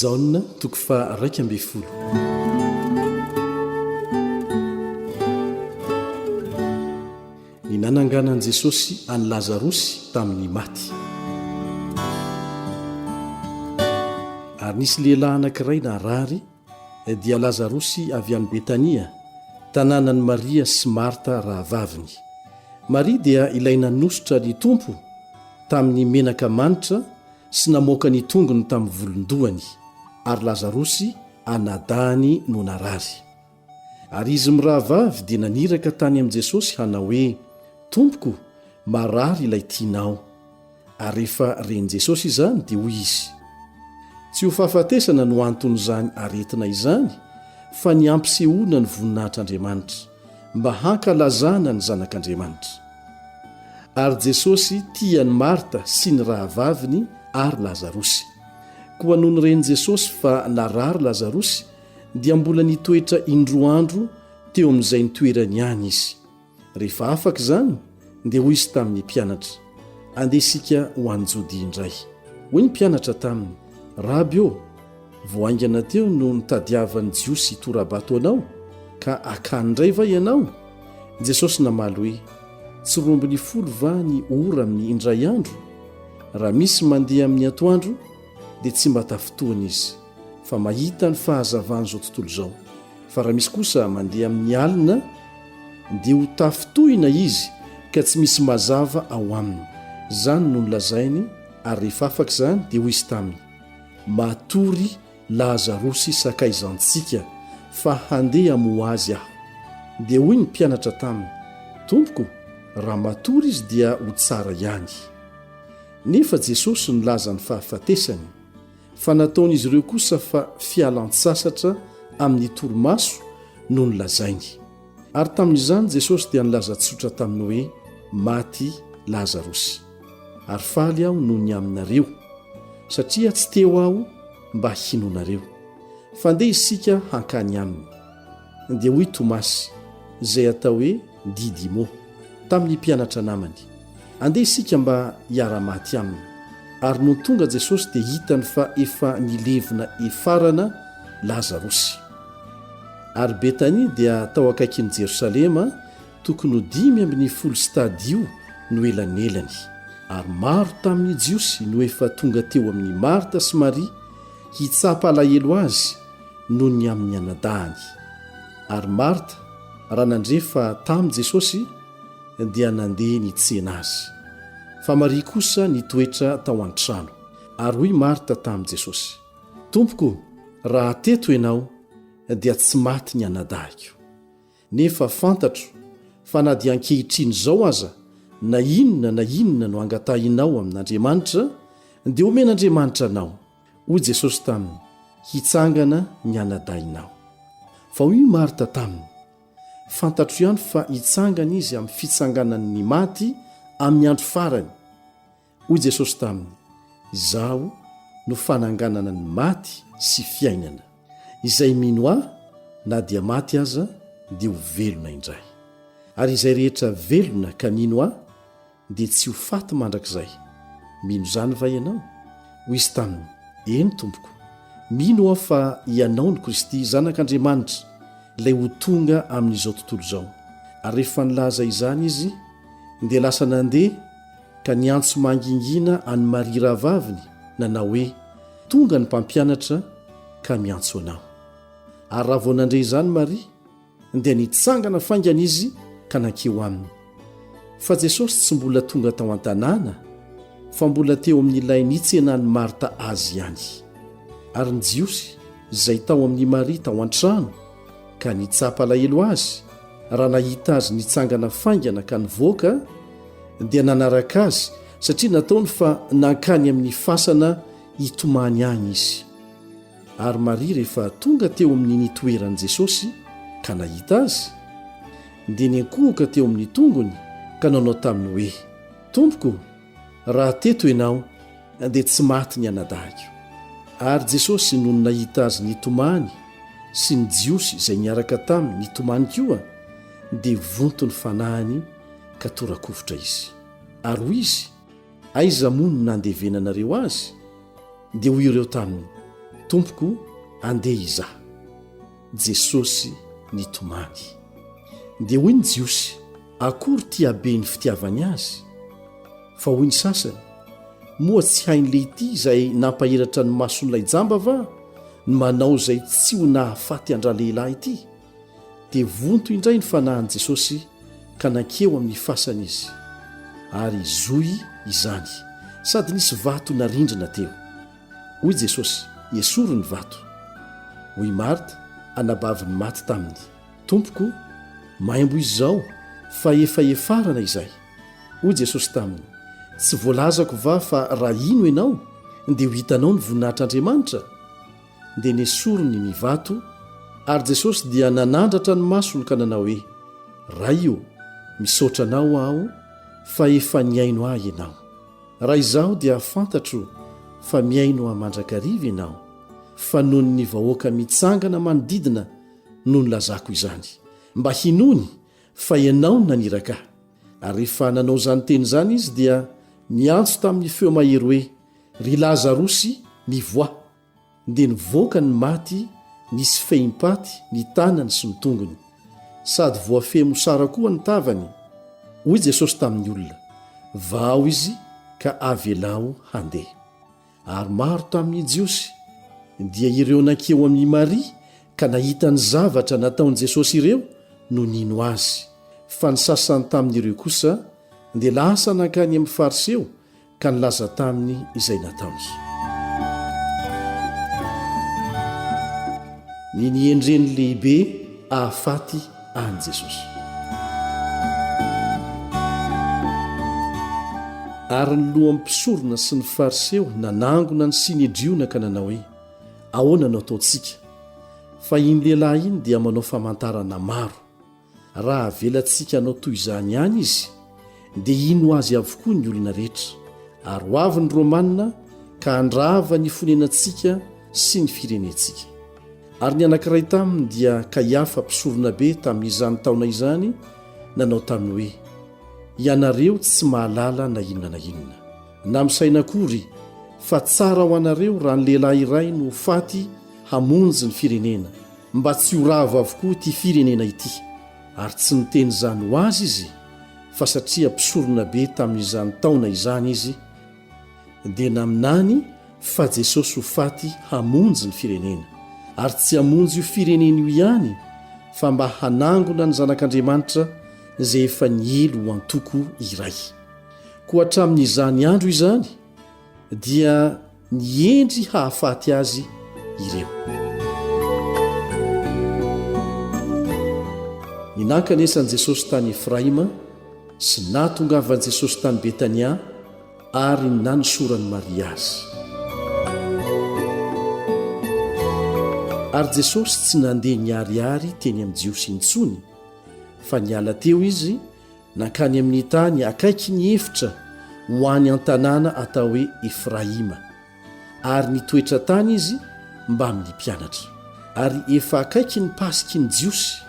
Jaona, toko faha raika ambin'ny folo. Ny nananganan'i Jesosy an'i Lazarosy tamin'ny maty. Ary nisy lehilahy anankiray narary, dia Lazarosy avy any Betania, tanànan'i Maria sy Marta rahavaviny. Maria dia ilay nanosotra ny Tompo tamin'ny menaka manitra, sy namoaka ny tongony tamin'ny volon-dohany, ary Lazarosy anadahany no narary. Ary izy mirahavavy dia naniraka tany amin'i Jesosy hanao hoe, Tompoko, marary ilay tianao. Ary rehefa ren'i Jesosy izany dia hoy izy, Tsy ho fahafatesana no anton'izany aretina izany, fa ny hampisehoana ny voninahitr'Andriamanitra. mba hankalazana ny Zanak'Andriamanitra. Ary Jesosy tia an'i Marta sy ny rahavaviny ary Lazarosy. Koa nony ren'i Jesosy fa narary Lazarosy, dia mbola nitoetra indroa andro teo amin'izay nitoerany ihany izy. Rehefa afaka izany, dia hoy izy tamin'ny mpianatra, Andeha isika ho any Jodia indray. Hoy ny mpianatra taminy, Raby ô! Vao haingana teo no nitadiavan'ny Jiosy hitora-bato anao, ka akany indray va ianao? Jesosy namaly hoe, Tsy roa ambin'ny folo va ny ora amin'ny indray andro? Raha misy mandeha amin'ny atoandro, dia tsy mba tafintohina izy, fa mahita ny fahazavan'izao tontolo izao, fa raha misy kosa mandeha amin'ny alina, dia ho tafintohina izy, ka tsy misy mazava ao aminy. Izany no nolazainy, ary rehefa afaka izany, dia hoy izy taminy, Matory Lazarosy sakaizantsika, fa handeha hamoha azy aho. Dia hoy ny mpianatra taminy, Tompoko, raha matory izy dia ho tsara ihany. Nefa Jesosy nilaza ny fahafatesany, fa nataon'izy ireo kosa fa fialan-tsasatra amin'ny torimaso no nolazainy. Ary tamin'izany Jesosy dia nilaza tsotra taminy hoe, Maty Lazarosy. Ary faly aho noho ny aminareo, satria tsy teo aho mba hinoanareo. Fa ndeha isika hankany aminy. Dia hoy Tomasy, izay atao hoe Didimo, tamin'ny mpianatra namany, Andeha isika mba hiara-maty aminy. Ary nony tonga Jesosy dia hitany fa efa nilevina efarana Lazarosy. Ary Betania dia tao akaikin'i Jerosalema, tokony ho dimy ambin'ny folo stadio no elanelany. Ary maro tamin'ny Jiosy no efa tonga teo amin'i Marta sy Maria hitsapa alahelo azy noho ny amin'ny anadahany. Ary Marta, raha nandre fa tamin'i Jesosy, dia nandeha nitsena azy. Fa Maria kosa nitoetra tao an-trano. Ary hoy Marta tamin'i Jesosy. Tompoko o, raha teto Ianao dia tsy maty ny anadahiko. Nefa fantatro fa na dia ankehitriny izao aza na inona na inona no angatahinao amin'Andriamanitra dia omen'Andriamanitra anao, hoy Jesosy taminy, hitsangana ny anadahinao. Fa hoy i Marta taminy, Fantatro ihany fa hitsangana Izy amin'ny fitsanganany ny maty amin'ny andro farany. Hoy Jesosy taminy, Izaho no fananganana ny maty sy fiainana. Izay mino Ahy, na dia maty aza, dia ho velona indray. Ary izay rehetra velona ka mino Ahy, dia tsy ho faty mandrakizay. Mino izany va ianao? Hoy izy taminy, Eny, Tompoko. Mino aho fa Ianao no Kristy, Zanak'Andriamanitra, Ilay ho tonga amin'izao tontolo izao. Ary rehefa nilaza izany izy, dia lasa nandeha, ka niantso mangingina an'i Maria rahavaviny nanao hoe, Tonga ny Mpampianatra ka miantso anao. Ary raha vao nandre izany Maria, dia nitsangana faingana izy ka nankeo aminy. Fa Jesosy tsy mbola tonga tao an-tanàna, fa mbola teo amin'ilay nitsenan'i Marta azy ihany. Ary ny Jiosy izay tao amin'i Maria tao an-trano, ka nitsapa alahelo azy raha nahita azy nitsangana faingana ka nivoaka dia nanaraka azy satria nataony fa nankany amin'ny fasana hitomany any izy ary maria rehefa tonga teo amin'ny nitoeran'i jesosy ka nahita azy dia niankohoka teo amin'ny tongony ka nanao taminy hoe tompoko Raha teto ianao dia tsy maty ny anadahiko. Ary Jesosy nony nahita azy nitomany sy ny Jiosy izay niaraka taminy nitomany koa dia vonto ny fanahiny ka tora-kovitra izy. Ary hoy izy, Aiza moa no nandevenanareo azy? Dia hoy ireo taminy, Tompoko, andeha izaho. Jesosy nitomany. Dia hoy ny Jiosy, Akory ity habe ny fitiavany azy? Fa hoy ny sasany, Moa tsy hain'le ity izay nampahiratra ny mason'ilay jamba va ny manao izay tsy ho nahafaty an-dralehilahy ity? Dia vonto indray ny fanahin'i Jesosy ka nankeo amin'ny fasana izy, ary zohy izany, sady nisy vato narindrina teo. Hoy Jesosy, Esory ny vato. Hoy i Marta, anabaviny maty taminy, Tompoko, maimbo izao, fa efa efarana izay. Hoy Jesosy taminy, Tsy voalazako va fa raha hino ianao, dia ho hitanao ny voninahitr'Andriamanitra? Dia nesoriny ny vato, ary Jesosy dia nanandratra ny masony ka nanao hoe, Ray ô, misaotra anao aho fa efa nihaino ahy ianao. Raha izaho dia fantatro fa mihaino ahy mandrakariva ianao, fa noho ny vahoaka mitsangana manodidina no nilazako izany, mba hinoany fa ianao no naniraka ahy. Ary rehefa nanao izany teny izany izy dia niantso tamin'ny feo mahery hoe, Ry Lazarosy, mivoaha! Dia nivoaka ny maty, nisy fehim-paty ny tanany sy ny tongony, sady voafehy mosara koa ny tavany. Hoy Jesosy tamin'ny olona, Vahaho izy ka avelaho handeha. Ary maro tamin'ny Jiosy, dia ireo nankia ao amin'i Maria ka nahita ny zavatra nataon'i Jesosy ireo no nino azy, fa ny sasany tamin'ireo kosa dia lasa nankany amin'ny Fariseo ka nilaza taminy izay nataony. Ny niendreny lehibe ahafaty an'i Jesosy. Ary ny lohan'ny mpisorona sy ny Fariseo nanangona ny Synedriona ka nanao hoe, Ahoana no ataontsika? Fa iny lehilahy iny dia manao famantarana maro. Raha avelantsika hanao toy izany ihany izy, dia hino azy avokoa ny olona rehetra, ary ho avy ny Romana ka handrava ny fonenantsika sy ny firenentsika. Ary ny anankiray taminy dia Kaiafa mpisoronabe tamin'izany taona izany nanao taminy hoe, Ianareo tsy mahalala na inona na inona, na misaina akory, fa tsara ho anareo raha ny lehilahy iray no ho faty hamonjy ny firenena, mba tsy ho ravo avokoa ity firenena ity ary tsy niteny izany ho azy izy fa satria mpisorona be tamin'izany taona izany izy dia naminany fa Jesosy ho faty hamonjy ny firenena ary tsy hamonjy io firenena io ihany fa mba hanangona ny zanak'Andriamanitra izay efa niely ho antoko iray koa hatramin'izany andro izany dia ny hendry hahafaty azy ireo. Ny nankanesan'i Jesosy tany Efraima sy nahatongavan'i Jesosy tany Betania ary ny nanosoran'i Maria azy. Ary Jesosy tsy nandeha niharihary teny amin'ny Jiosy intsony fa niala teo izy Nankany amin'ny tany akaiky ny efitra ho any an-tanàna atao hoe Efraima, ary nitoetra tany izy mbamin'ny mpianatra. Ary efa akaiky ny Pasik'i ny Jiosy,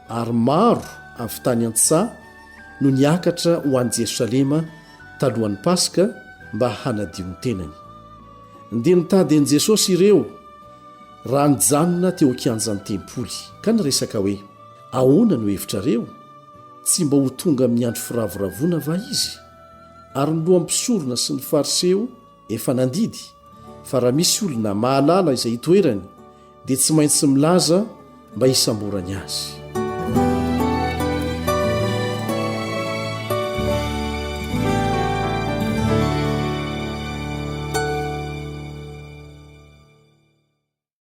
ary maro avy tany an-tsaha no niakatra ho any Jerosalema talohan'ny Paska mba hanadio ny tenany. Dia nitady an'i Jesosy ireo raha nijanona teo an-kianjan'ny tempoly, ka niresaka hoe. Ahoana no hevitrareo? Tsy mba ho tonga amin'ny andro firavoravoana va Izy? Ary ny lohan'ny mpisorona sy ny Fariseo efa nandidy fa raha misy olona mahalala izay itoerany dia tsy maintsy milaza mba hisamborany Azy.